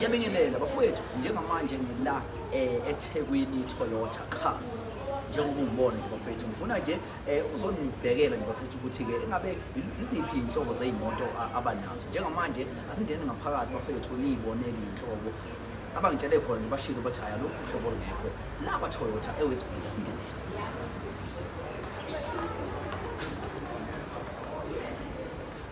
Yabingelela bafowethu njengamanje ngila eh, eThekwini Toyota Cars njengoba ungibona nje bafethu ngifuna nje eh, uzonibhekela nje bafethu ukuthi-ke engabe iziphi iy'nhlobo zey'moto abanazo njengamanje asingene ngaphakathi bafethu niyibonele iy'nhlobo abangitshele khona nje bashilo bathi hhayi alokhu uhlobo lungekho la kwatoyota ewesibili asingenele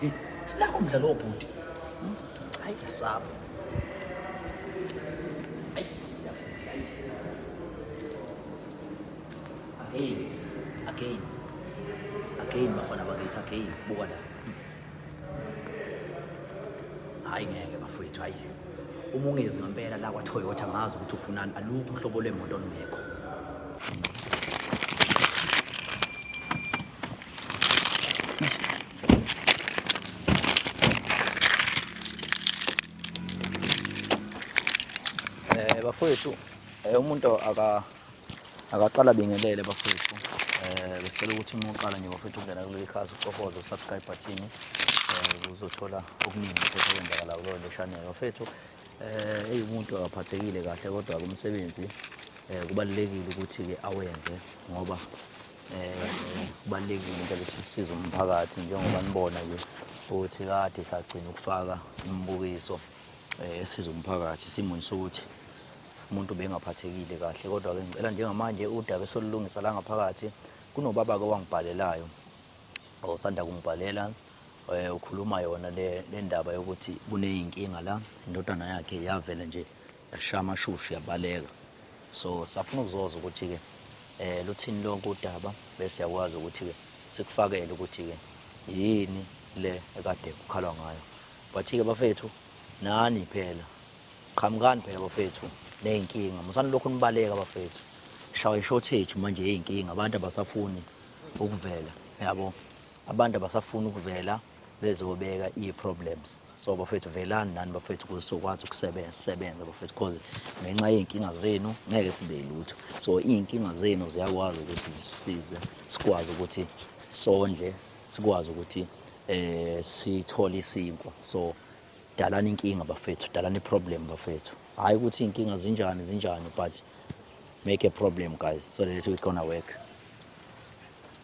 Hey, sinako mdla lowo bhuti. Hmm? Hayi yasaba. Again, again, again, bafana bakithi, again, buka la. Hayi ngeke bafowethu, hayi. Uma ungezi ngempela la kwa-Toyota ngazi ukuthi ufunani, alukho uhlobo lwemoto olungekho. Eh bafowethu eh, umuntu aka akaqala bingelele bafowethu eh besicela ukuthi uma uqala nje bafowethu ungena kuleli khasi ucofoze usubscribe button eh uzothola okuningi futhi okwenzakala kulo channel bafowethu eh eyumuntu akaphathekile kahle kodwa kumsebenzi eh kubalulekile ukuthi ke awenze ngoba kubalulekile into ukuthi sisize umphakathi njengoba nibona nje ukuthi kade sagcina ukufaka imibukiso eh, esiza umphakathi simuni sokuthi umuntu bengaphathekile kahle kodwa-ke ngicela njengamanje udaba esolulungisa la ngaphakathi kunobaba-ke owangibhalelayo osanda kungibhalela eh, ukhuluma yona le ndaba yokuthi kuney'nkinga la indodana yakhe yavele nje Yasha amashushu yabaleka. So safuna ukuzoza ukuthi-ke um luthini lonke udaba bese siyakwazi ukuthi-ke sikufakele ukuthi-ke yini le ekade kukhalwa ngayo but-ke bafethu nani phela qhamukani phela bafethu ney'nkinga musani lokhu nibaleka bafethu shawa i-shortage manje yey'nkinga abantu abasafuni ukuvela yabo abantu abasafuni ukuvela bezobeka ii-problems so bafethu velani nani bafethu kuze sokwazi ukusebenza sisebenze bafethu because ngenxa yey'nkinga zenu ngeke sibe lutho so iy'nkinga zenu ziyakwazi ukuthi zisize sikwazi ukuthi sondle sikwazi ukuthi eh sithole isinkwa so dalani inkinga bafethu dalani i-problem bafethu hhayi ukuthi iy'nkinga zinjani zinjani but make a problem guys so that we gonna work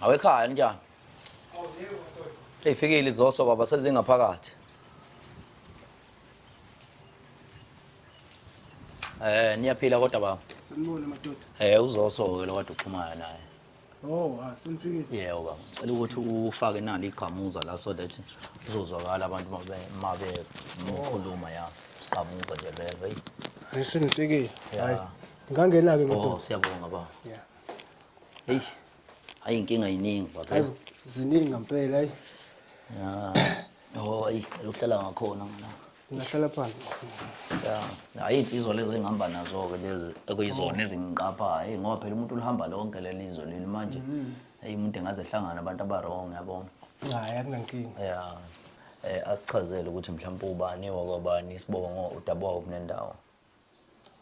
Awekhaya njani? Eyifikile izoso baba sezingaphakathi. Eh niyaphila kodwa baba. Sanibona madoda. Eh uzoso ke lokade uxhumana naye. Oh, ah, selifikile. Yebo baba. Cela ukuthi ufake nalo igqamuza la so that kuzozwakala abantu mabe mabe mkhuluma ya. Gqamuza nje vele. Hey. Hayi senifikile. Ya. Hayi. Ngangena ke Oh, ngedoda. siyabonga baba. Yeah. Hey. Hayi inkinga yiningi baba. Hayi z- ziningi ngempela hayi. Ya. Oh, ayi, cela uhlala ngakhona mina. Ngingahlala phansi. Yeah. Hayi insizwa lezi engihamba nazo-ke lezi ekuyizona ezingiqaphayo. Eyi ngoba phela umuntu ulihamba lonke leli izwe leli manje. Eyi umuntu engaze ehlangana abantu abarong yabona. Hayi akunankinga. Yeah. Eh asichazele ukuthi mhlawumbe ubani wakwabani isibongo udaba wawo kunendawo.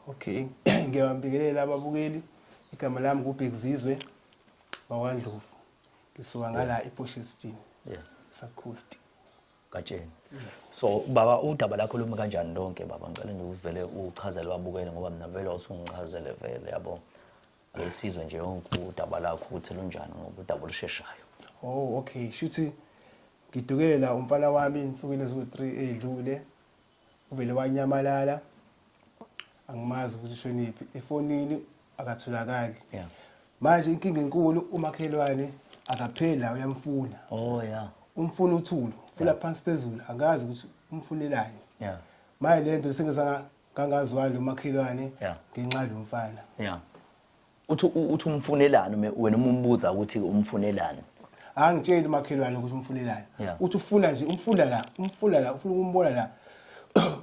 Okay. Ngiyabambikelela ababukeli. Igama lami nguBhekizizwe wakwaNdlovu. Ngisuka ngala ePortsheston. Yeah. Sakhosti. gatsheni so baba udaba lakho lumi kanjani lonke baba ngicela nje uvele uchazele babukele ngoba mina vele usungichazele vele yabo ayisizwe nje yonke udaba lakho ukuthi lunjani ngoba udaba olusheshayo oh okay shuthi ngidukela umfana wami insukwini eziwu-3 edlule uvele wanyamalala angimazi ukuthi ushonephi efonini akatholakali yeah. manje inkinga enkulu umakhelwane akapheli la uyamfuna oh yeah umfuna uthulu fula yeah. phansi phezulu angazi ukuthi umfunelani yeah manje lento sengizanga kangazwani umakhelwane yeah. ngenxa lomfana yeah uthi uthi umfunelani ume- wena uma umbuza ukuthi umfunelani angitsheli umakhelwane ukuthi umfunelani Yeah. uthi ufuna nje umfuna la umfuna la ufuna ukumbona la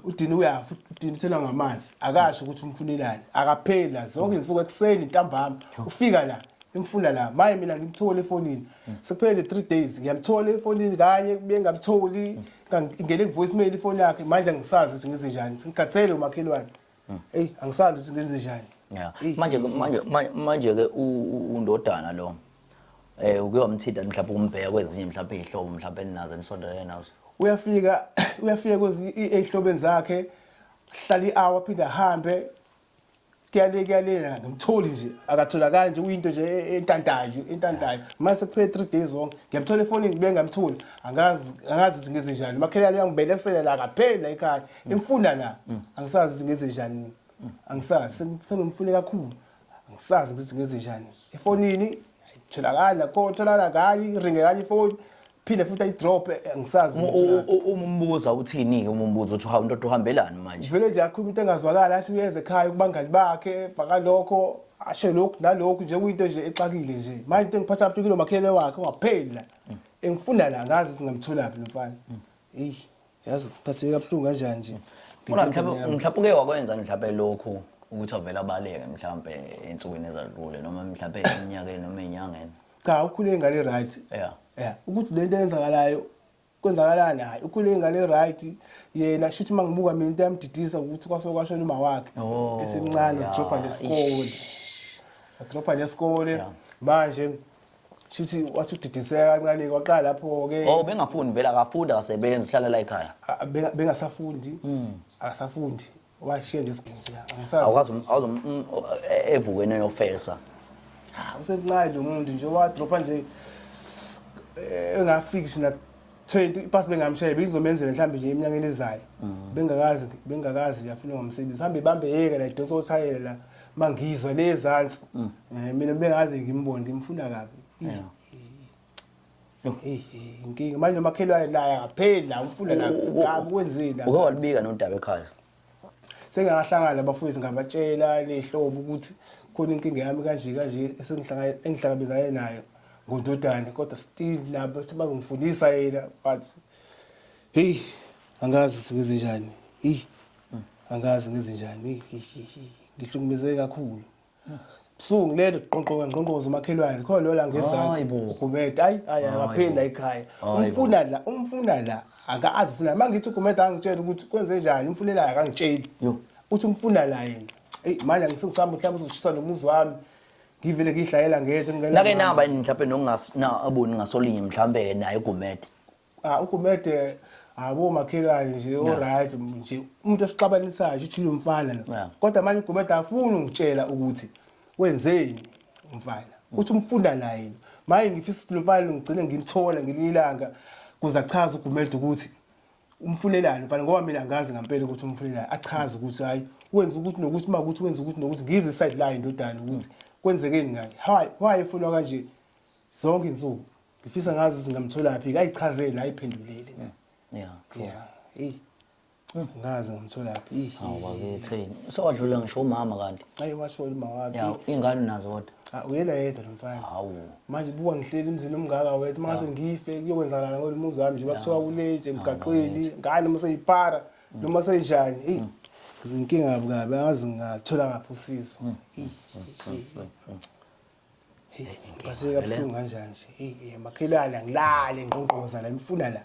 udini uyafa udini uthelwa ngamanzi akasho ukuthi umfunelani akapheli la zonke izinsuku ekuseni ntambama ufika la imfuna la maye mina ngimthole efonini sekuphele nje three days ngiyamthola efonini kanye kubuye ngamtholi ngingene ku-voice mail ifoni yakhe manje angisazi ukuthi ngize njani ngikhathele umakhelwane Hmm. Hey angisazi ukuthi ngenze njani. Yeah. Manje manje manje ke undodana lo. Eh ukuyomthinta mhlawumbe umbheka kwezinye mhlawumbe izihlobo mhlawumbe ninazo enisondelene nazo. Uyafika uyafika kwezinye ezihlobeni zakhe hlala i-hour phinde ahambe kuyale kuyale ngimtholi nje akatholakali nje uyinto nje e, e, entantayo entantayo mase kuphele 3 days on ngiyamthola efonini ngibe ngamtholi angazi angazi ukuthi ngize njani makhelane uyangibelesela la kapheli la ekhaya Ngimfuna la. Angisazi ukuthi ngenze njani. Angisazi sengifuna ngimfune kakhulu. Angisazi ukuthi ngenze njani. Efonini ayitholakali nakho tholakala kanye iringe kanye ifoni. Phinde futhi ayidrop angisazi ukuthi utholakala. Uma umbuza uthini-ke uma umbuza ukuthi hawu ndoda uhambelani manje? Vele nje akhuluma into engazwakali athi uyeza ekhaya kubangani bakhe bhaka lokho asho lokhu nalokhu nje kuyinto nje exakile nje. Manje into engiphatha kabuhlungu kulo makhelwane wakhe ungapheli la. Engifuna la ngazi ukuthi ngamtholaphi lo mfana. Eyi yazi ngiphatheke kabuhlungu kanjani nje Kodwa ngentombazane mhlawumbe yami. mhlawumbe uke wakwenza mhlawumbe lokhu ukuthi avele abaleke mhlawumbe ensukwini ezadlule noma mhlawumbe eminyakeni noma enyangeni. cha ukhule ingane right Yeah. yeah ukuthi lento eyenzakalayo kwenzakalani hayi ukhule ingane right yena shuthi mangibuka mina into yamdidisa ukuthi kwase kwashona uma wakhe Oh, esemncane yeah, udropha nesikole udropha nesikole manje shuthi wathi udidiseka kancane kwaqala lapho ke oh bengafundi vele akafundi akasebenzi uhlala la ekhaya A- benga- bengasafundi akasafundi washiya nje esigodini nje angisazi awukazi awuzo mm, o- e- evukweni yofesa Ah, usemncane lo muntu nje wadropa nje eh, engafiki shina 20 ipasi bengamshaya beyizomenzela mhlawumbe nje eminyakeni ezayo mm. bengakazi bengakazi nje afuna ngomsebenzi mhlawumbe ibambe yeke la idonsa othayela la mangizwa le ezantsi mm. eh, mina bengazi ngimboni ngimfuna kabi inkinga manje umakhelwane naye akapheli la umfuna la kabi kwenzeni la uke walibika nodaba ekhaya sengakahlangana nabafowethu ngabatshela lehlobo ukuthi khona inkinga yami kanje kanje engihlangabezane nayo ngondodane kodwa still nabo ukuthi bazongifundisa yena but heyi angazi singenze njani heyi angazi ngenze njani ngihlukumezeke kakhulu Buhlungu leli qonqoka ngqonqoza umakhelwane khona lola ngezansi Hayi bo. ugumede ayi ayi akaphinda ekhaya Hayi bo. umfuna la umfuna la akazi funa uma ngithi ugumede angitshela ukuthi kwenze njani umfunela akangitsheli Yo. uthi umfuna la yena eyi manje angisengisami mhlawumbe uzoshisa nomuzi wami ngivele ngiyidlayela ngedwa ngingena nake mama. naba yini mhlawumbe nongas na aboni ngasolinye mhlawumbe naye ugumede Ah uGumede abo makhelwane nje o right nje umuntu osixabanisayo uthi lo mfana lo. Yeah. Kodwa manje uGumede afuni ungitshela ukuthi wenzeni umfana. Uthi umfunda naye. Manje ngifisa ukuthi lo mfana ngigcine ngimthola ngelinye ilanga kuze achaze uGumede ukuthi umfunelani mfana ngoba mina ngazi ngempela ukuthi umfunelani achaze ukuthi hayi wenza ukuthi nokuthi uma ukuthi wenza ukuthi nokuthi ngize side line ndodana ukuthi kwenzekeni ngaye hayi why efunwa kanje zonke insuku ngifisa ngazi ukuthi ngamtholaphi kayichazeli ayiphenduleli ne yeah yeah hey hmm. ngazi ngamtholaphi hawu bakithi sewadlula ngisho umama kanti ayi washo umama wakhe yeah ingane nazo kodwa ah, uyena yedwa lo mfana hawu manje buka ngihleli emzini omngaka wethu uma ngase ngife kuyokwenzakala ngalo muzi wami nje bakuthiwa kuleje emgaqweni ngane uma seyipara hmm. noma seyinjani eyi hmm. ngizinkinga kabi kabi angazi ngathola ngaphi usizo Basike kabuhlungu kanjani nje. Hey makhelwane angilale ngqongqoza la imfuna la.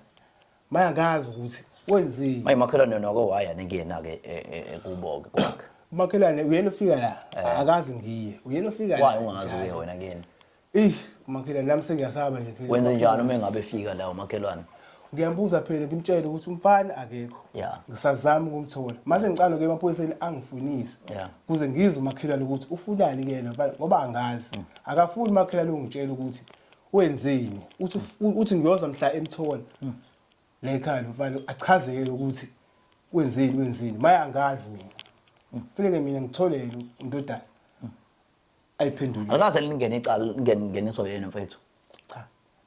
Maya ngazi ukuthi wenzeni. Maye makhelwane yona ko waya nekuyena ke e, e, e, kubo ke kwakhe. Makhelwane uyena ofika la. Eh. Akazi ngiye. Uyena ofika la. Why ungazi uye wena kuyena? Eh makhelwane nami sengiyasaba nje phela. Wenze njani uma engabe efika la umakhelwane? ngiyambuza phela ngimtshele ukuthi umfana akekho yeah. ngisazama ukumthola mase ngicala nokuya emaphoyiseni angifunise yeah. kuze ngizwe umakhelwane ukuthi ufunani kuyena ngoba angazi mm. akafuni umakhelwane ungitshela ukuthi wenzeni uthi mm. uthi ngiyoza mhla emthola mm. la ekhaya mfana achazeke ukuthi wenzeni wenzeni maye angazi mina mm. funeke mina ngitholele undodana ayiphendulile akaze lingene icala lingene ngeniso yena mfethu cha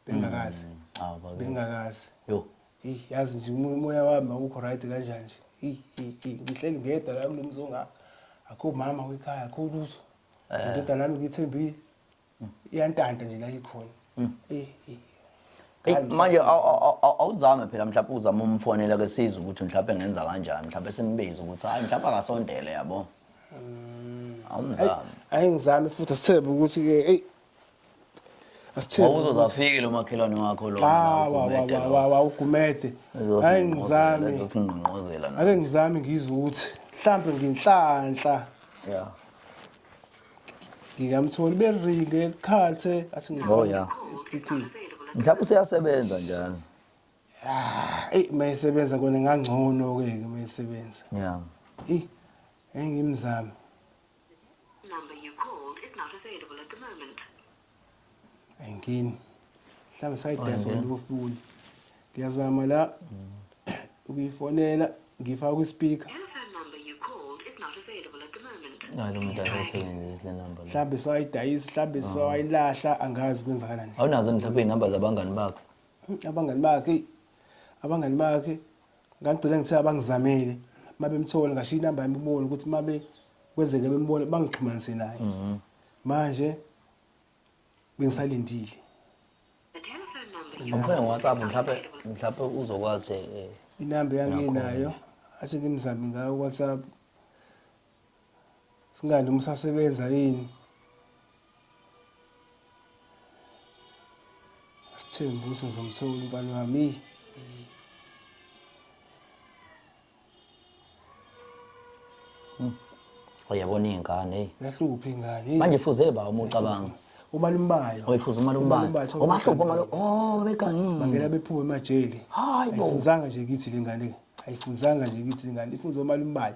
bengakazi ah bake bengakazi yo hey yazi nje umo- umoya wami awukho right kanjani nje hey hey hey ngihleli ngedwa la kulo mzonga akho mama wekhaya akho lutho indodana yami ngiyithembile iyantanta nje la ikhona hey hey Eyi, Hayi, manje aw- aw- aw- aw- awuzame phela mhlawumbe uzame umfonela ke sizwe ukuthi mhlawumbe ngenza kanjani mhlawumbe simbize ukuthi hayi mhlawumbe akasondele yabo awumzami ayi ngizame futhi asithebe ukuthi ke eyi asithebe ukuthi- wawuzozaphiki lo makhelwane wakho lo Ah, wa- wa- wa- wa- wa- ugumede ayi ngizame ngqongqozela ake ngizame ngizwe ukuthi mhlampe nginhlanhla ya ngingamtholi beringe likhathe athi Oh, yeah. speaking mhlawumbe useyasebenza njalo eyi uma esebenza kona ingangcono-ke ke uma esebenza ya eyi engimzame engini mhlawumbe sayidayisa Oyini? kwalokofuni ngiyazama la ukuyifonela ngifaka kwispika hayi lo muntu akayisebenzisi le number le mhlawumbe sawayidayisa mhlawumbe sawayilahla angazi kwenzakalani awunazo mhlawumbe iy'namba zabangani bakho abangani bakhe abangani bakhe ngagcina ngithe abangizamele uma bemthola ngashiya inamba yami kubona ukuthi uma kwenzeke bembona bangixhumanise naye mhm. manje bengisalindile Ukhona WhatsApp mhlawumbe mhlawumbe uzokwazi eh, inamba yanginayo ashe ngimzame ngayo WhatsApp Singani umusasebenza yini? Asithembi ukuthi ngizomthola umfana wami. Uyabona iy'ngane eyi. Yahlupha ingane. eyi. Manje fuze ba uma ucabanga. Umalumbayo. Oyifuza umalumbayo. Umalumbayo, thola Omahlupha umntwana. umalu. Oh babegangile. Bangena bephume emajele. Hayi bo. Ayifunzanga nje kithi le ngane. Ayifunzanga nje kithi le ngane. Ifunza omalumbayo.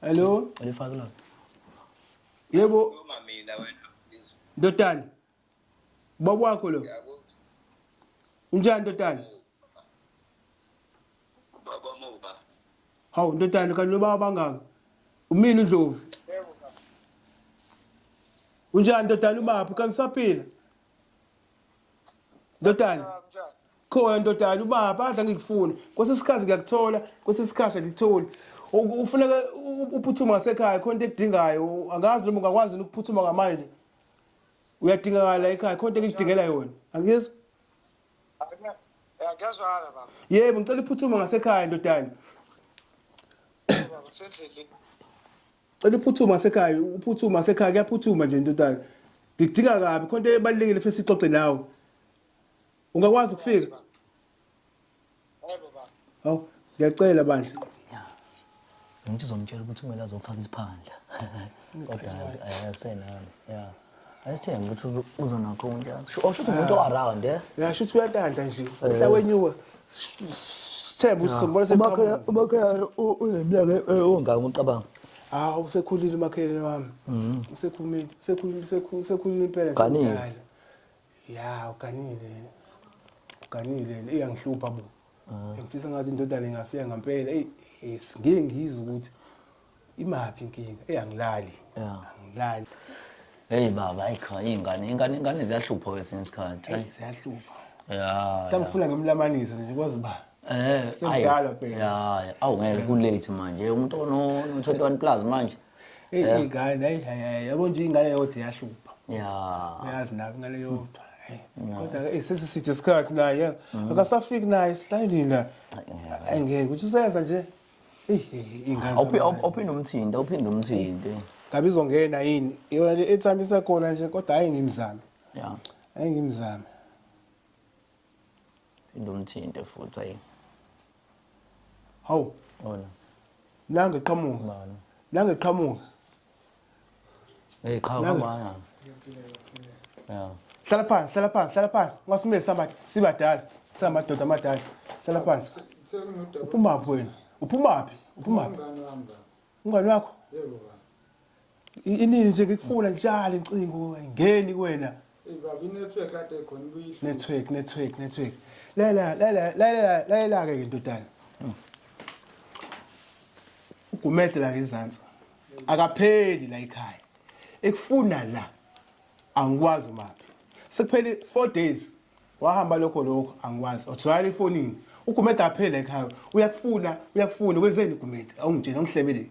Hello. Ulifaka lona. Yebo. Uma mina wena. Ndodana. Baba wakho lo. Unjani ndodana? Baba muba. Hawu ndodana kanti lobaba bangaka. Umini uNdlovu. Unjani ndodana ubaphi kangisaphila? Ndodana. khona ndodana ubaba adla ngikufuna kwesinye isikhathi ngiyakuthola kwesinye isikhathi angikutholi ufuneka uphuthuma ngasekhaya khona into ekudingayo angazi noma ungakwazi ukuphuthuma ngamanje uyadingakala ekhaya khona into engikudingela yona angizwa ngiyazwala baba yebo ngicela uphuthuma ngasekhaya ndodana cela uphuthuma ngasekhaya uphuthuma ngasekhaya kuyaphuthuma nje ndodana ngikudinga kabi khona into ebalulekile fesi ixoxe nawe Ungakwazi ukufika? Hawu, ngiyacela bandla. Ngithi uzomtshela ukuthi kumele azofaka isiphandla. Kodwa hayi akusenani. Yeah. Ayisithembi ukuthi uzo- uzonakho umuntu yazi. Sho- Osho ukuthi umuntu o-around eh. Ngasho ukuthi uyatanta nje. Uta wenyuka. Sithemba ukuthi sombona seqhamuka. Umakhelwane uneminyaka ongaka ucabanga. Hawu usekhulile umakhelwane wami. Usekhulile, usekhulile, usekhu- usekhulile impela Kaningi. semdala. ya uganile yena uganile yena iyangihlupha bo ah. ngifisa ngathi indodana ingafika ngempela eyi ngeke ngizwe ukuthi imaphi inkinga eyi angilali angilali heyi baba ayikho iy'ngane ingane ingane ziyahlupha kwesinye isikhathi ziyahlupha ya mhlawumbe ufuna ngemlamanisa nje kwazi uba Eh, semdala phela. Hayi, awungeke kulate manje. Umuntu ono 21 plus manje. Hey yeah. ingane hayi hayi yabo nje ingane yodwa yahlupha. Yeah. Uyazi nabo ingane yodwa. Kodwa ke sesi sithe isikhathi naye mm. akasafiki naye silayini la. Angeke ukuthi useyenza nje. Hey ingane. Awuphinde umthinde, awuphinde umthinde. Ngabe izongena yini? Yona le ethambisa khona nje kodwa hayi ngimzame. Yeah. Hayi ngimzame. Ilumthinte futhi ayi. Hawu. Ona. Nange qhamuka. Bani. Nange qhamuka. Hey qhamuka manga. Yeah. Hlala phansi, hlala phansi, hlala phansi. Ungasimile samba sibadala, samadoda amadala. Hlala phansi. Uphuma phi wena? Uphuma phi? Uphuma phi? Umngani wakho? Yebo baba. inini nje ngikufuna ngitshale incingo ngeni kuwena network network network lela lela lela lela ke ndodana ugumede la ngezantsi akapheli la ekhaya ekufuna la angikwazi maphi sekuphele 4 days wahamba lokho lokho angikwazi othoyala ifonini ugumede aphele ekhaya uyakufuna uyakufuna wenzeni ugumede awungitshela ungihlebeleni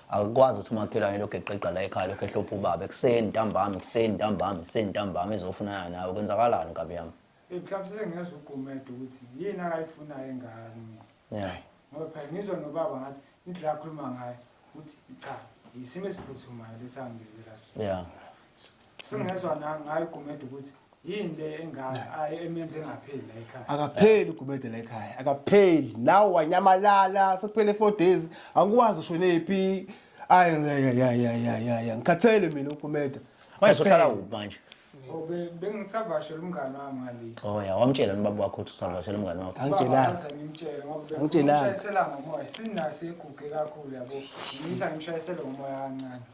akukwazi ukuthi umakhelwane lokhu eqeqa la ekhaya lokhu ehlopha ubaba ekuseni ntambama ekuseni ntambama ekuseni ntambama ezofunana nawe kwenzakalani nkabi yami mhlawumbe sengiyezwa ugumede ukuthi yini akayifunayo engane yeah. ngoba phela ngizwa nobaba ngathi indlela akhuluma ngayo ukuthi cha yisimo esiphuthumayo lesangibizela sona yeah. Singezwa na ngayo Gumede ukuthi yini le engaka ayi emenze engapheli la ekhaya. akapheli ugumede la ekhaya akapheli nawe wanyamalala sekuphele four days angikwazi ushonephi ayi ayayayayayaya ngikhathele mina ugumede Wayezohlala Ngikhathele. kuphi manje? Oh, be- Bengisavashela umngane wami ngale. Oh ya, wamtshela nobaba wakho ukuthi usavashela umngane wakho. angitshelanga Baze ngimtshele ngoba be- Angitshelanga. ngimshayisela ngomoya. Sinayo siguge kakhulu yabo. Ngitha ngimshayisele ngomoya kancane.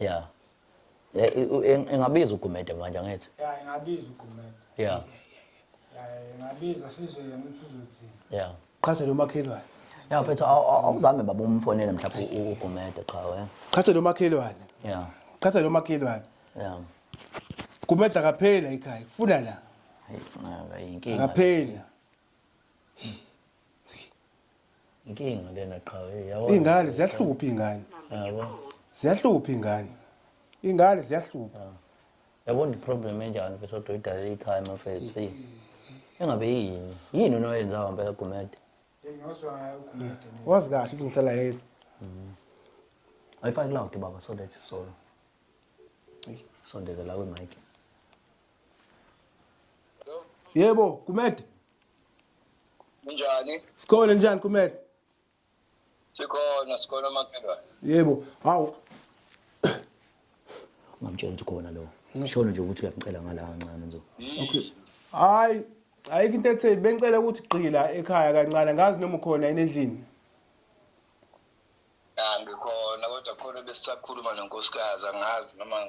Yeah. Eh, i- u- ing- Ingabiza uGumede manje angithi. ya ingabiza ugumede Yeah. ya ingabiza sizwe yena ukuthi uzothini Yeah. qhathe nomakhelwane Yeah, mfethu aw- aw- awuzame baba umfonele mhlawumbe u- uGumede cha wena. qhathe nomakhelwane Yeah. qhathe nomakhelwane Yeah. kumeda kaphela ekhaya kufuna la Hey, ngaka inkinga. akaphela inkinga lena qha iy'ngane ziyahlupha iy'ngane ziyahlupha iy'ngane iy'ngane ziyahlupha ah. yabona i-problem enjani ke sodwa idalele ikhaya mafethu engabe yini yini unoyenzayo mpela gumede wazi kahle ukuthi ngihlala yedwa mm-hmm. ayifaki loud baba so that solo sondezela kwimike yebo gumede Kunjani? Sikhona njani kumele? Sikhona, sikhona makhelwane. Yebo. Hawu. Ungamtshela ukuthi khona lo. Shona nje ukuthi uyamcela ngala kancane nje. Okay. Hayi, ayikho into etheni. Bengicela ukuthi gqila ekhaya kancane. Ngazi noma ukhona yini endlini. Angikhona kodwa khona besisakhuluma nonkosikazi angazi noma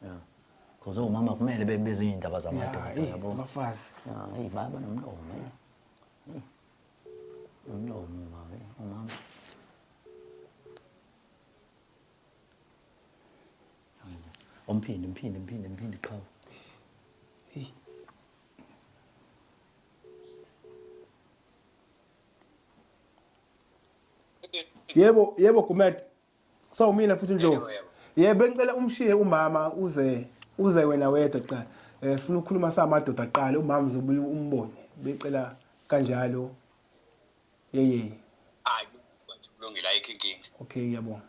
Yeah. Cause omama kumele bebize iy'ndaba zamadoda Yeah, eh, yabo. abafazi. Yeah, eyi baba nomlomo. eyi. Eyi. Umlomo baba, eyi, umama. Umphindi, mphindi, mphindi, mphindi qhawe. Eyi. Yebo, yebo Gumede. so mina futhi ndlovu ye bengicela umshiye umama uze uze wena wedwa qala eh sifuna ukukhuluma samadoda aqala umama uzobuya umbone becela kanjalo yeye hayi kulungile ayikho inkinga okay ngiyabonga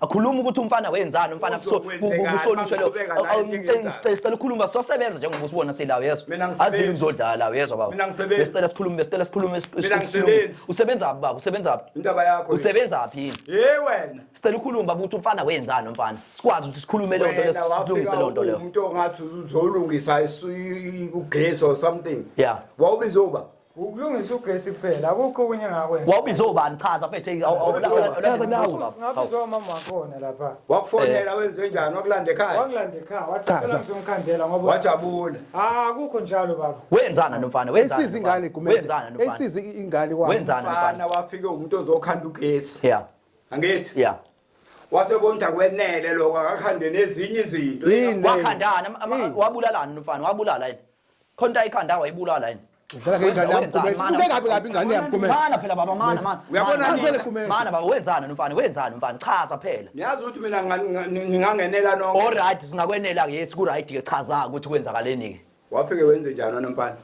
akhuluma ukuthi umfana wenzani umfana kusolusho lo awumcela ukhuluma sosebenza njengoba usibona silawo yeso azile ukuzodlala lawo yeso baba besicela sikhulume besicela sikhulume usebenza phi baba usebenza phi indaba yakho usebenza phi hey wena sicela ukhulume baba ukuthi umfana wenzani umfana sikwazi ukuthi sikhulume le nto lesilungise le nto leyo umuntu ongathi uzolungisa ugesi or something yeah wawubizoba ukulungisa ugesi kuphela akukho okunye engakwenza wawubize ubani chaza bethe Chaza nawe. ngabizwa umama wakhona lapha wakufonela wenze njani wakulanda ekhaya wangilanda ekhaya wathi Chaza. "Cela ngizomkhandela ngoba wajabula Ah, akukho njalo baba wenzana nomfana wenzana Esiza ingane nomfana? kumele. wenzana nomfana Esiza i- ingane kwami. wenzana mfana nomfana wafike umuntu ozokhanda ugesi yeah angithi yeah wasebona ukuthi akwenele lokho akakhande nezinye izinto Yini? wakhandana ama- ama- Yini? wabulalana nomfana wabulala yini Khonta ikhanda wayibulala yini? Udlala ngengane yami kumele. Uke kabi kabi ingane yami kumele. Mana phela baba mana mana. Uyabona Mana, ngizele kumele. Mana baba wenzani no mfana wenzani mfana chaza phela. Niyazi ukuthi mina nga- nga- ngingangenela nonke. All right singakwenela ke yes ku right ke chaza ukuthi kwenzakaleni ke. Wafike wenze njani wena mfana?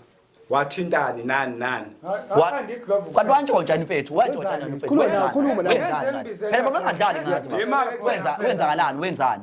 Wathintani nani nani? Wa- Kanti wantshontsha yini mfethu wantshontsha Wenzani? yini mfethu Khuluma nawe, Wenzani? khuluma nawe. Wenzani? Phela baba ungadlali ngathi. Yema-ke baba. Wenza wenzakalani wenzani?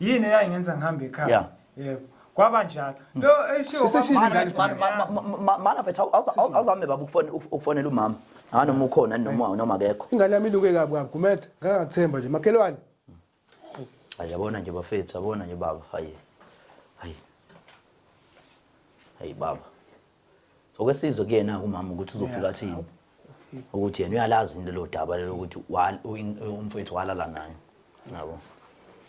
yini eyayingenza ngihambe ekhaya Yeah. yebo kwaba njalo lo eshiwo Isishilo kwaba- ingane. Mana- mana- ma- ma- ma- mana mfethu awu- awuza- awu- awuzame baba ukufone- uf- ukufonela umama ha noma ukhona noma noma akekho ingane yami iluke kabi kabi gumede ngangakuthemba nje makhelwane hayi yabona nje bafethu yabona nje baba hayi hayi hayi baba so ke sizwe kuyena umama ukuthi uzofika athini ukuthi yena uyalazi into lodaba lelo ukuthi umfethu walala naye yabo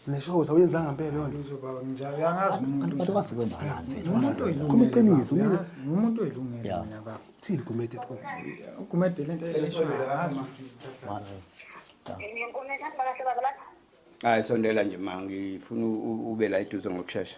Nesho ukuthi awuyenzanga impela leyo nto. Uzoba njalo uyangazi umuntu. Abantu bafike kwenzakalani mfethu? Umuntu oyilungile. Khona iqiniso mina. Umuntu oyilungile mina baba. Thini gumede pho? Gumede lento eyishwele hama. Hayi sondela nje ma ngifuna ube la eduze ngokushesha.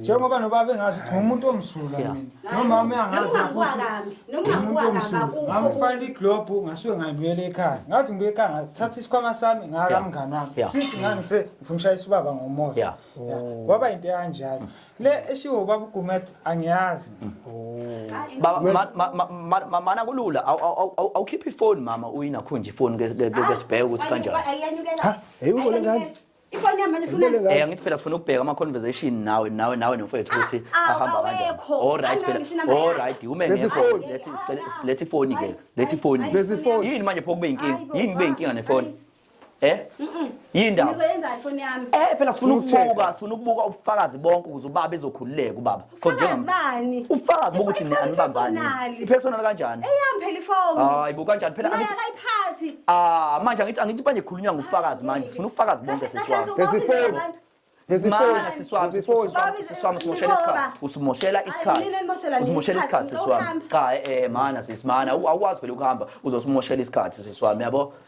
njengoba nobaba engazi ukuthi ngumuntu omsulwa mina nomama uyangazi ngamfana iglobhu ngasuke ngayibuyela ekhaya ngathi ngibuye ekhaya ngathatha isikhwama sami ngaka mngani wami sithi ngangithe ngifuna ushayisa ubaba ngomoya kwaba into ekanjalo le eshiwo ubaba ugumet angiyazi mana kulula awukhiphe ifoni mama uyinakhunje ifoni ke sibheke ukuthi kanjani ifoni yami manje ifuna Ngibele Eh angithi phela sifuna ukubheka ama conversation nawe nawe nawe nomfowethu ukuthi Ah, ah, ahamba kanjani. awekho. All right Angithi ngisho phela. inamba All yakhe. right uma Lesi ngekho phone. lethi sicela- lethi phone ke. Lethi phone. Hayi, Lesi phone. Yini manje pho kube inkinga? Hayi bo, Yini kube inkinga ne phone? Eh? Yini ndaba? ngizoyenza ifoni yami Eh phela sifuna Full check. ukubuka, sifuna ukubuka ubufakazi bonke ukuze ubaba ezokhululeka ubaba. For Fakazi njenga- bani? ufakazi bokuthi Ifoni anibambani personal. ipersonal kanjani Eyami phela ifoni. hayi bo kanjani phela Naye angithi- akayiphathi. ah manje angithi angithi manje khulunywa ngobufakazi manje sifuna ubufakazi bonke Kahle, kahle, siswami Phesi ubabizela phone. abantu. Phesi Mana phone. siswami Phesi phone. siswami Babize- siswami usimoshela isikhathi Ngoba. usimoshela Ay, isikhathi nina nimoshela nini usimoshela isikhathi isikhathi? siswami Ngawuhamba. cha eh mana sisimana awukwazi phela ukuhamba uzosimoshela isikhathi siswami yabo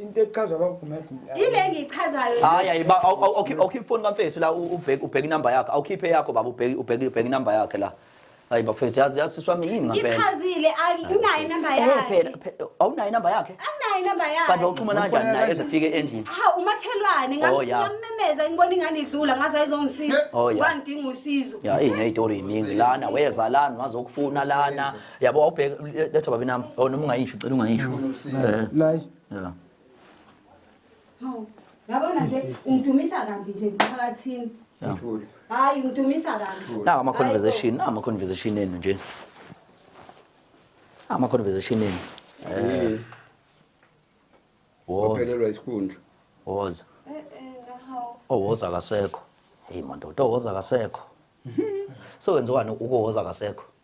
into echazwa kwa Gumede yile engichazayo hayi hayi ba awukhiphe ifoni kamfethu la ubheke ubheke inamba yakhe awukhiphe yakho baba ubheke ubheke ubheke inamba yakhe la hayi bafethu yazi yazi siswami yini ngampela ngichazile anginayo inamba eh, yakhe phela awunayo inamba yakhe anginayo inamba yakhe kanti wawuxhumana kanjani naye ezifike endlini ha umakhelwane oh, ngamemeza ngibona ingane idlula ngaze ayizongisiza oh, wangidinga usizo ya ineytori iningi lana weza lana wazokufuna lana yabo wawubheka letha babi nami oh noma ungayisho ucela ungayisho Eh, nayi yeah. Hawu. Yabona nje ungidumisa kabi nje emphakathini. Ngithule. Hayi ungidumisa kabi. nawo ama-conversation nawo ama-conversation enu nje nawo ama-conversation enu Eh, woza Waphelelwa isikhundla. woza Eh eh ngahawu. owoza akasekho heyi mandoda owoza akasekho so wenziwani ukuwoza akasekho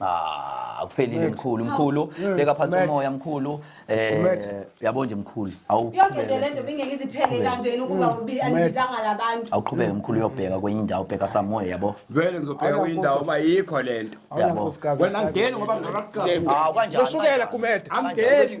Ah, akuphelile Mfethu. mkhulu mkhulu Mm, beka phansi Mfethu. umoya mkhulu eh Mfethu. yabo nje mkhulu awu yonke nje le nto bingeke iziphele kanjena ukuba ubi- anibizanga la bantu awuqhubeke mkhulu uyobheka kwenye indawo bheka samoya yabo vele ngizobheka kwenye indawo uba yikho le nto Awunankosikazi. wena angeni ngoba ngingakakuxasi Ah, kanjani, Noshukela kanjani? kumede. angeni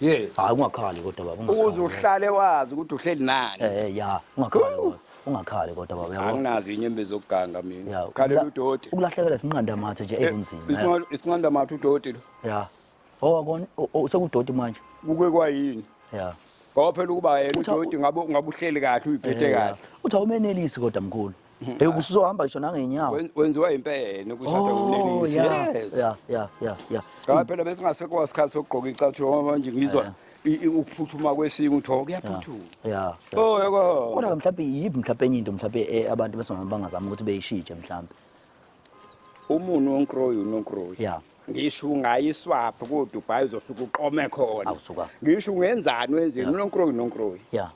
Yes. Hayi ungakhali kodwa baba. ungakhali. Ukuze uhlale wazi ukuthi uhleli nani. Eh ya, ungakhali. baba. Ungakhali kodwa baba yabo. Anginazi inyembezi okuganga mina. Ya, Khalela ukula- udoti. Ukulahlekela sinqanda mathe nje ekunzima. ya. Isinqanda- Isinqanda mathe udoti lo. Ya. Oh akon usekudoti manje. Kuke kwayini? Ya. Ngoba phela ukuba yena Utha- udoti ngabe ngabe uhleli kahle uyiphethe Ya, ya. kahle. Uthi awumenelisi kodwa mkhulu. Hey ubusuzohamba ngisho nangenyawo. Wen- Wenziwa impene ukushada Oh ngumlelisi. yeah. Yes. Yeah, yeah, yeah, yeah. Cha phela bese ngasekwa isikhathi sokugqoka icathulo ngoba manje ngizwa Yeah. i- i- ukuphuthuma kwesingu uthiwa Yeah. kuyaphuthuma. Yeah. yeah. Oh yako. Kodwa mhlawumbe yiphi mhlawumbe enye into mhlawumbe eh, abantu besingama bangazama ukuthi beyishitshe mhlawumbe. Umuntu onkroyi unonkroyi. Yeah. ngisho ungayiswaphi kodubai uzosuke uqome khona Awu, suka. ngisho ungenzani wenzeni unonkroyi nonkroyi ya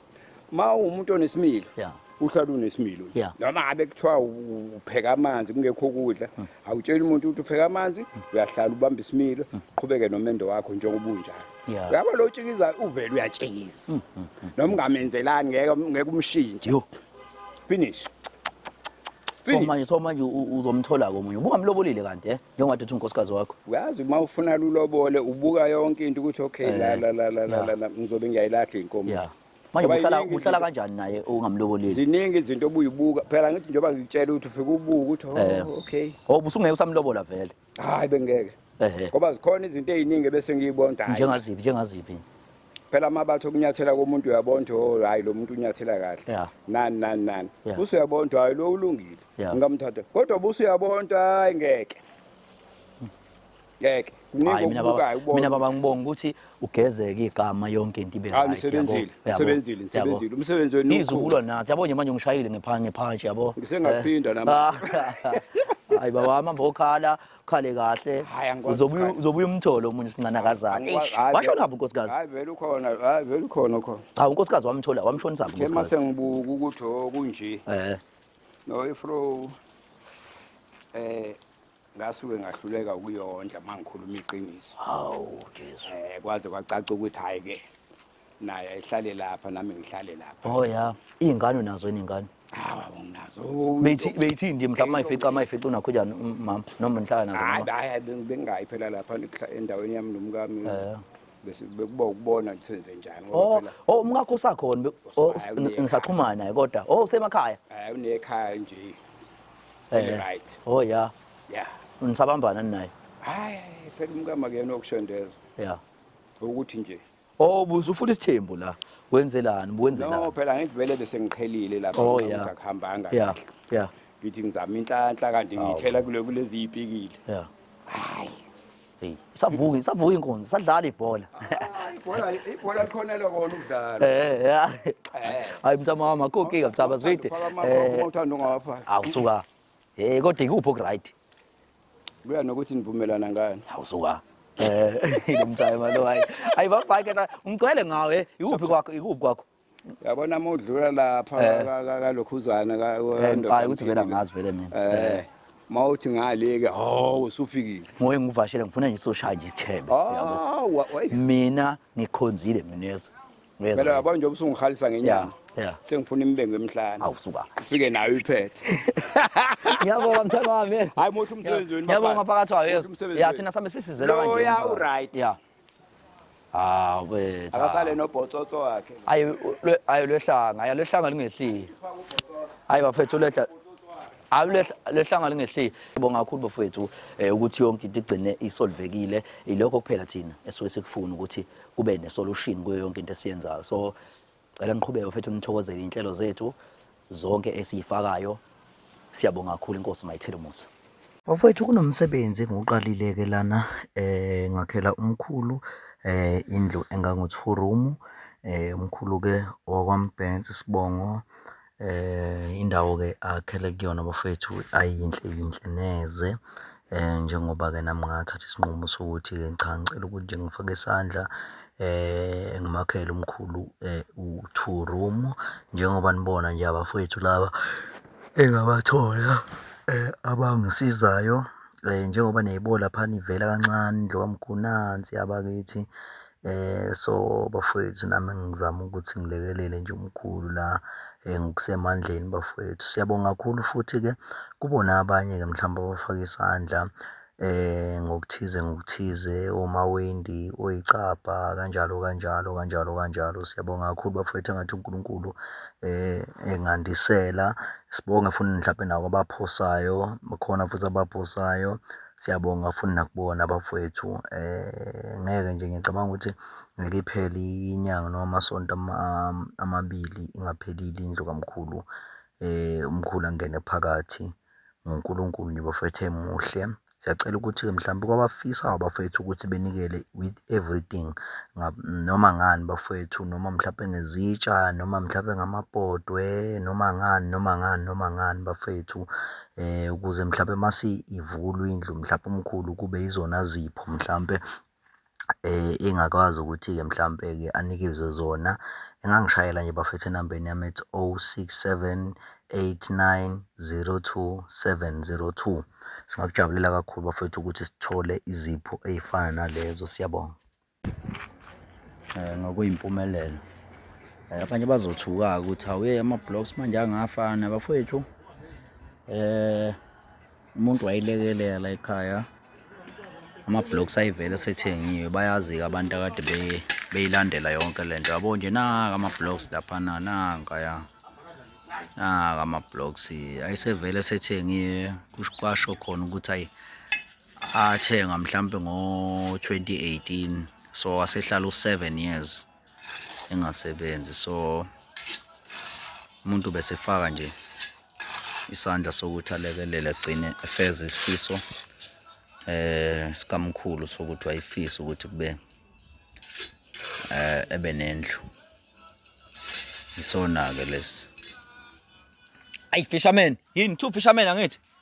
ma uwumuntu onesimilo Yeah. uhlala unesimilo nje. Yeah. noma ngabe kuthiwa u- upheka amanzi kungekho ukudla awutsheli umuntu ukuthi upheka amanzi uyahlala ubamba isimilo uqhubeke nomendo wakho njengoba unjalo Yeah. uyabo lo tshikiza uvele uyatshikiza noma ungamenzelani ngeke ngeke umshintshe Yo. finish so manje so manje uzomthola komunye ubungamlobolile kanti eh njengoba uthi unkosikazi wakho uyazi uma ufuna lulobole ubuka yonke into ukuthi okay eh, la la la la la ngizobe ngiyayilahla inkomo yeah manje uhlala uhlala kanjani naye ungamloboleli ziningi izinto obuyibuka phela ngithi njengoba ngitshela ukuthi ufike ubuka ukuthi oh, eh. okay oh busungeke usamlobola vele hayi bengeke Ehhe. ngoba zikhona izinto eziningi bese ngiyibonda hayi njengaziphi njengaziphi phela amabatho okunyathela komuntu uyabona ukuthi oh hayi lo muntu unyathela kahle Yeah. nani nani nani Yeah. buse uyabona ukuthi hayi lo ulungile Yeah. ngingamthatha kodwa buse uyabona ukuthi hayi ngeke ngeke kuningi hayi mina baba okubukayo ubone mina baba ngibonga ukuthi ugezeke igama yonke into ibe Hayi, right, nisebenzile, yabo, yabo, nisebenzile, yabo. nisebenzile. Umsebenzi wenu Ngizwa umkhulu. ukulwa nathi yabo nje manje ngishayile ngepha- ngephanshi yabo Ngisengaphinda Eh. nama- hayi baba wami hamba okhala ukhale kahle Hhayi, angikwazi Uzobuya- ukukhala. uzobuya umthole omunye usincanakazane Angikwazi- hayi, washona vele- haphi unkosikazi Hayi vele ukhona, hayi vele ukhona ukhona. cha unkosikazi wamthola wamshonisa haphi Khe unkosikazi mase ngibuka ukuthi oh kunje. eh No ifro eh ngasuke ngahluleka ukuyondla uma ngikhuluma iqiniso hawu jesu um kwaze kwacaca ukuthi hhayi-ke naye ayihlale lapha nami ngihlale lapha o oh, ya iy'ngane unazo yini iy'ngane hawa nginazo beyithini nje mhlawumbe mayifica mayifica unakho njani mama noma nihlala nazo hayi hayi bengingayi phela lapha endaweni yami nomkami eh. bese bekuba ukubona ukuthi senze njani oh, oh umkakho usakhona oh, ngisaxhumana naye kodwa oh usemakhaya hayi unekhaya nje Very Eh. right. Oh yeah. Yeah. Nisabambana ninaye. Hayi, phela umkama kuyena okushondeza Yeah. ukuthi nje. Oh buze ufuna isithembu la. Wenzelani? No, Wenzelani? phela ngivele bese ngiqhelile lapha Oh yeah. ngikuhambanga. Yeah. Yeah. Ngithi ngizama inhlanhla kanti ngiyithela kule kulezi ipikile. Yeah. Hayi. Hey, isavuka isavuka inkunzi sadlala ibhola. Ibhola ibhola likhona lokho ukudlala. Eh ya. Hayi mtama mama koke kathaba zwide. Eh uthanda ungawapha. Awusuka. Eh kodwa ikuphi okuright? Kuya nokuthi nivumelana ngani. Awusuka. Eh lo mtama lo hayi. Ayi bafake umcele ngawe ikuphi kwakho ikuphi kwakho. yabona uma udlula lapha Eh. ka- ka- kalokhuzana ka- Eh, wendoda hayi ukuthi vele mphile. angazi vele mina Eh, Eh, ma uthi ngale-ke hawu usufikile ngoye ngivashele ngifuna nje soshaya nje isithebe yabo Ah, wa- wa- mina ngikhonzile mina yezwa Uyezwa phela yini? yabona njengoba usungihalisa ngenyanga Yeah, yeah. sengifuna imibengo emhlane awu suka ufike nayo iphethe ngiyabonga mthemba wami hayi muhle umsebenzi wenu ngiyabonga bafana. phakathi wayo Muhle yezwa umsebenzi ya wenu. thina sambe sisizela kanje Loya uright. ya hawu bethu akasale nobhotsotso wakhe ayi lwe- ayi lwehlanga ayi lwehlanga lingehliyo ayi bafethu lwehla ayi lwehla- lwehlanga lingehliyo bonga kakhulu bafethu eh, ukuthi yonke into igcine isolvekile ilokho kuphela thina esuke sikufuna ukuthi kube nesolution kuyo yonke into esiyenzayo so Cela niqhubeke mfethu nithokozele inhlelo zethu zonke esiyifakayo. Siyabonga kakhulu inkosi mayithele umusa. Bafowethu kunomsebenzi engiwuqalile-ke lana eh ngakhela umkhulu eh indlu engango-two room eh umkhulu-ke owakwambensi sibongo Indawo-ke akhele kuyona bafwethu ayi yinhle yinhle neze njengoba-ke nami ngathatha isinqumo sokuthi-ke cha ngicela ukuthi nje ngifake isandla ngimakhele umkhulu u-two room njengoba nibona nje abafwethu laba engabathola abangisizayo. Njengoba niyayibona laphana ivela kancane indlu kamkhulu nansi abakithi. So bafwethu nami ngizama ukuthi ngilekelele nje umkhulu la ngokusemandleni bafwethu. Siyabonga kakhulu futhi-ke kubona abanye-ke mhlawumbe abafake isandla ngokuthize ngokuthize omawendi, oyicabha kanjalo kanjalo kanjalo kanjalo. Siyabonga kakhulu bafwethu engathi uNkulunkulu engandisela. Sibonge futhi mhlampe nakwabaphosayo, bakhona futhi abaphosayo. Siyabonga futhi nakubona abafwethu ngeke nje ngicabanga ukuthi ngeke iphele inyanga noma amasonto amabili ingaphelile indlu kamkhulu umkhulu angene phakathi ngoNkulunkulu nje bafwethu emuhle. Siyacela ukuthi-ke mhlawumbe kwabafisayo abafwethu ukuthi benikele with everything noma ngani bafwethu noma mhlampe ngezitsha noma mhlampe ngamabhodwe noma ngani noma ngani noma ngani bafwethu. Ukuze mhlampe mase ivulwa indlu mhlampe umkhulu kube izona zipho mhlampe engakwazi ukuthi-ke mhlampe-ke anikezwe zona. Engangishayela nje bafethu enambeni yami ethi, o six seven eight nine zero two seven zero two. Singakujabulela kakhulu bafwethu ukuthi sithole izipho ey'fana nalezo. Siyabonga. um ngokuyimpumelelo um abanye bazothuka-ke ukuthi awuye ama-blocks manje angafana bafowethu um umuntu wayilekelela ekhaya ama-blocks ayivele sethengiwe bayazi-ke abantu akade beyilandela yonke le nto yabo nje naka ama-blocks laphana nanka ya naka ama-blocks ayisevele sethengiwe kwasho khona ukuthi ayi athenga mhlampe ngo-2018 so wasehlala u-7 years engasebenzi so umuntu besefaka nje isandla sokuthi alekelele agcine efeza isifiso eh sikamkhulu sokuthi wayifisa ukuthi kube eh ebe nendlu isona ke lesi ay fisherman yini two fisherman angithi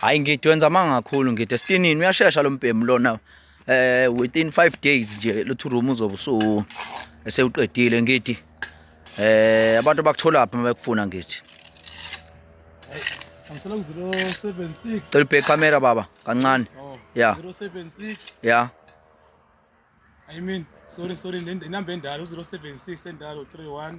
hayi ngidi wenza amanga kakhulu ngidi esitinini uyashesha lo mbhemu lona eh within 5 days nje lo two room uzobe usu esewuqedile ngidi eh abantu bakuthola phi mabekufuna ngidi Ngicela ku 076 Cela ubheke camera baba kancane oh, yeah 076 yeah I mean sorry sorry inamba endala u 076 endala 31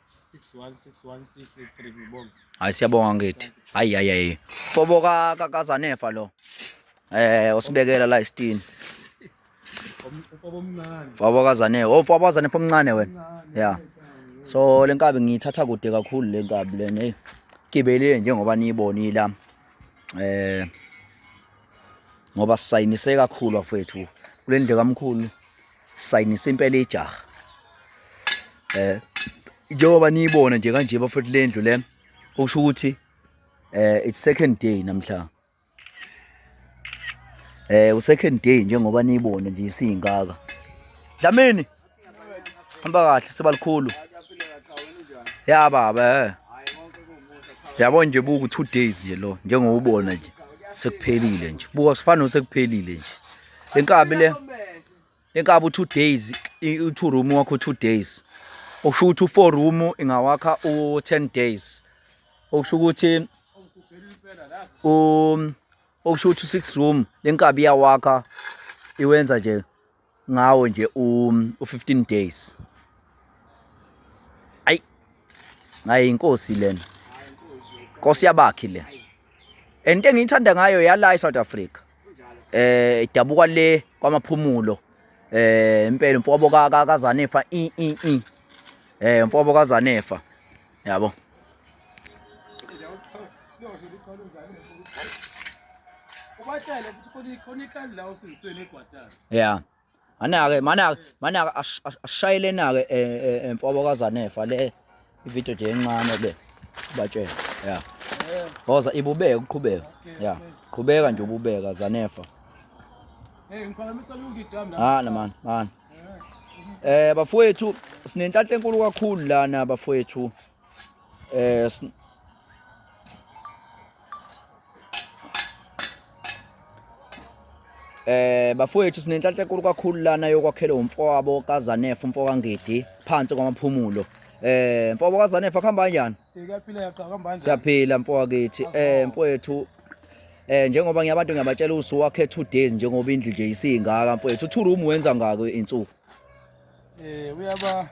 hayi siyabonga ngithi hayi hayi hayi fobo kazanefa lo eh usibekela la isitini fobo kazanefa oh fobo kazanefa omncane wena ya so le nkabi ngiyithatha kude kakhulu le nkabi le hey gibelile njengoba niyibonile la eh ngoba sisayinise kakhulu afethu kule ndle kamkhulu sayinisa impela ijaha eh njengoba niyibona nje kanje bafethu lendlu le okusho ukuthi eh it's second day namhla eh u second day njengoba niyibona nje isingaka Dlamini hamba kahle sebalikhulu ya baba eh yabo nje buku 2 days nje lo njengoba ubona nje sekuphelile nje buka sifana osekuphelile nje le nkabi le le nkabi u-two days u-two room wakho u-two days okusho ukuthi u-four room ingawakha u-ten days okusho ukuthi um okusho ukuthi u-six room le nkabi iyawakha iwenza nje ngawo nje u-fifteen days ayi ngaye inkosi lena nkosi yabakhi le and into engiyithanda ngayo yala eSouth Africa eh idabuka le kwamaphumulo eh impela mfobo kaZanefa i i i eh mfobo kaZanefa yabo ubatshele ukuthi khona ikhona ikali la usizisweni egwadala yeah Manake manake manake ashayile nake e, e, emfobo kaZanefa le ivideo nje encane le batshela yeah Boza ibubeka uqhubeka yeah qhubeka nje ububeka Zanefa Hey ngikhalamisa lungi dam la Ah man man Eh bafowethu sinenhlanhla enkulu kakhulu lana bafowethu eh Eh bafowethu sinenhlanhla enkulu kakhulu lana yokwakhelwa umfowabo kaZanefu umfokangidi phansi kwamaphumulo Eh mfobo kaZanefa kuhamba kanjani? Iyaphila yaqa kuhamba kanjani? Siyaphila mfowakithi. Eh mfowethu eh njengoba ngiyabantu ngiyabatshela usu wakhe 2 days njengoba indlu nje isingaka mfowethu. Two room wenza ngako insuku. Eh uyaba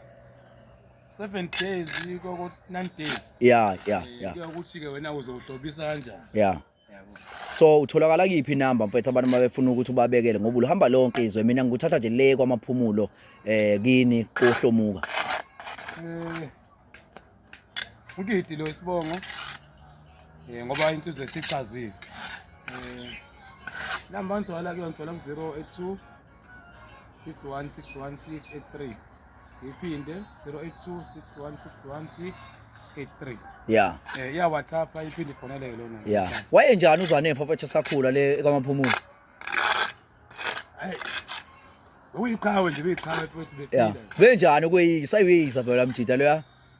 7 days koko 9 days yeah yeah eh, yeah ukuthi ke wena uzohlobisa kanjani yeah so utholakala kiphi inamba mfethu abantu mabefuna ukuthi ubabekele ngoba uhamba lonke izwe mina ngikuthatha nje le kwamaphumulo eh kini kohlomuka eh udidi lo isibongo eh ngoba insizwe sichazile eh namba ngithola kuyona ngithola ku 082 6161 iphinde 0826161683 yeah eh ya whatsapp iphinde ifoneleke lona yeah waye njani uzwane mfafethu sakhula le kwamaphumulo uyiqhawe nje uyiqhawe futhi bephila benjani ukuyisa uyisa phela mjida loya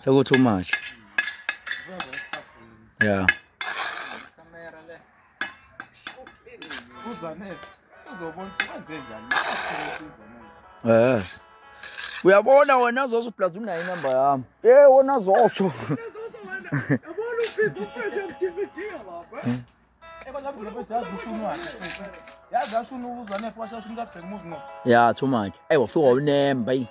Seku too much. Yeah. Eh. Uyabona wena zoso plus unayo inamba yami. Eh wona zoso. Yabona ufisa ukuphethe mdividi lapha. ya too much eyi wafika unemba yi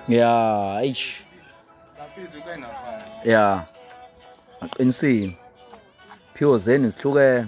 ya eish ya aqinisile phiwo zenu zihlukene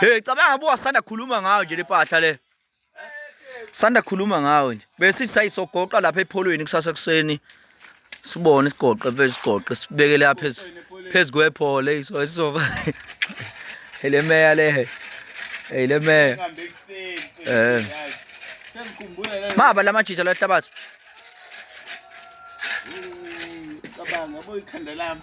Hey cabanga buka sanda khuluma ngayo nje lepahla le. Sanda khuluma ngayo nje. Bese sisayisogoqa lapha epholweni kusasa kuseni. Sibone isigoqe mfethu isigoqe sibeke lapha phezulu. Phezu kwephole iso esizoba. Hele meya le. Hey le meya. Eh. Maba lamajija lahlabathi. Cabanga boyikhanda lami.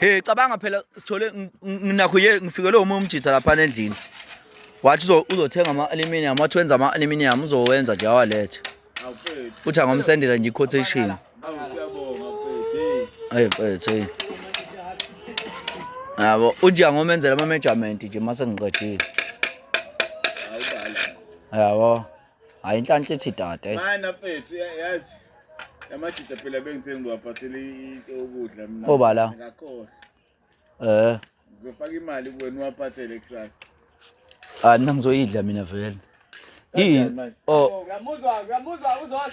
Hey cabanga phela sithole nginakho ye ngifikelwe uma umjitha lapha endlini. Wathi uzothenga ama aluminium, wathi wenza ama aluminium uzowenza nje awalethe. Uthi angomsendela nje quotation. Hey mfethu hey. Yabo uthi angomenzela ama measurement nje mase ngiqedile. Yabo. hayi inhlanhla ithi dade mana mfethu yazi amajita phela bengithe ngiwaphathele into yokudla mina oba la ngakhohlwa eh ngizofaka imali kuwena uwaphathele kusasa ah mina ngizoyidla mina vele yini oh uyamuzwa uyamuzwa uzodla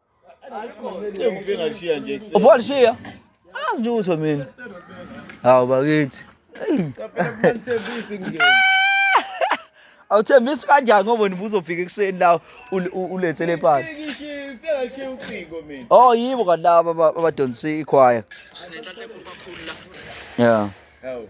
Engifike ngashiya nje ekuseni. Uvuka lishiya? Azi lutho mina. Hawu bakithi. Ngithembisi ngeke. Awuthembisi kanjani ngoba wena ubuzofika ekuseni la ul- u- ulethe le pala. Ngishiywe, ngifike ngashiya ucingo mina. Oh yibo kanti laba aba- abadonsa ikhwaya. Yeah. Hawu.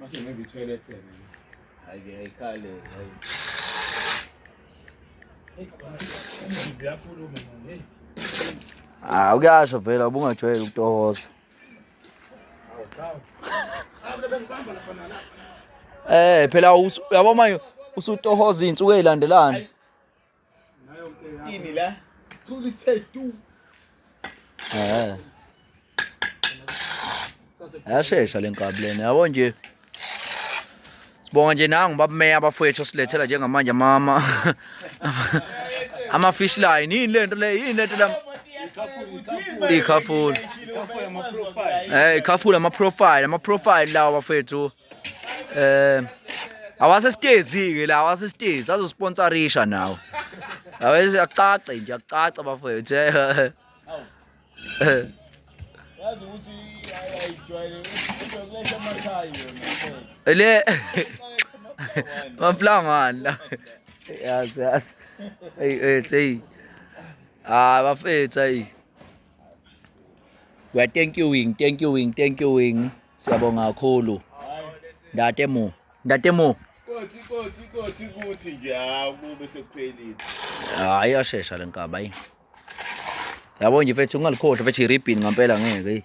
Mase ngenza i-toilet sebe. Hayi ke ayikhale hayi. Uyakhuluma manje. Ah ukuyasho vela ubungajwayele ukutohoza. Eh phela yabo manje usutohoza izinsuku ezilandelana. Ini la. Tuli say tu. Eh. Yashesha lenkabi lena yabo nje. Sibonga nje nangu babumeya abafowethu silethela njengamanje mama. Ama fish line yini lento le yini lento la. Ikhafula. Eh ikhafula ama profile ama profile lawa bafowethu. Eh awasesitezi ke la awasesitezi azosponsorisha nawo. Awese akucace nje akucaca bafethu. Eh. eh. Yazi ukuthi ayijwayele ukuthi amakhaya yona. Le Maplangwana la. Yazi yazi. Hey hey hey. Ah bafethu hey. we are thank you wing thank you wing thank you wing siyabonga kakhulu ndate mo ndate mo kothi kothi kothi kuthi nje hawu kube sekuphelile hayi yashesha lenkaba yini yabo nje mfethu ungalikhohlwa mfethu iribbon ngampela ngeke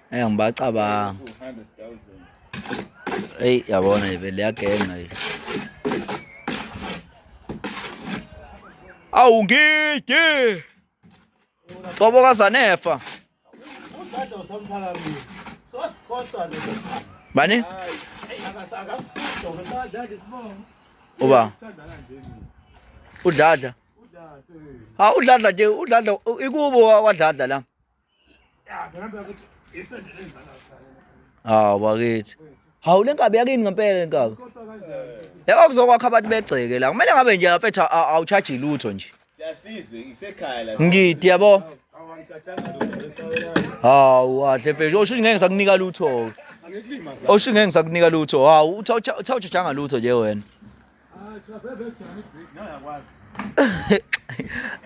Hey ngibacabanga. Hey yabona ivele yagenga yile. Awu ngidi. Cobo kazanefa. Udade usamphakamiso. Sosikhohlwa nje. Bani? Uba. Udladla. Udladla. Ha udladla nje udladla ikubo wadladla la. hawu bakithi hawu le nkabi yakini ngempela le nkabi yaba kuzokwakha abantu begceke la kumele ngabe nje afethu awuchaji lutho nje ngidi yabo hawu kahle mfethu osho ngeke ngisakunika lutho osho ngeke ngisakunika lutho hawu uthawujajanga lutho nje wena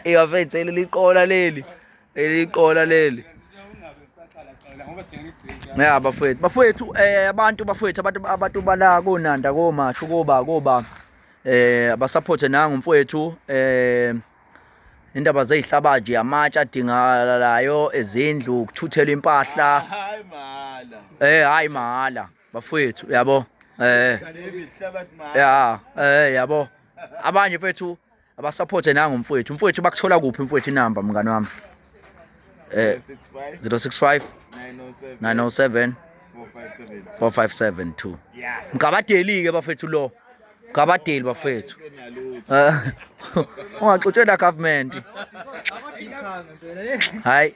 Iyafethe leli qola leli. Leli qola leli. Ya bafowethu, bafowethu eh abantu bafowethu abantu abantu bala konanda komasho koba koba eh abasupporte nangu mfowethu eh indaba zezihlabaji yamatshe adingalayo ezindlu ukuthuthela impahla hayi mahala eh hayi mahala bafowethu yabo eh ya eh yabo abanye mfethu abasupporte nangu mfowethu mfowethu bakuthola kuphi mfowethu inamba mngani wami eh 065 907 4572 mgabadeli ke bafethu lo mgabadeli bafethu eh, ungaxutshela government hayi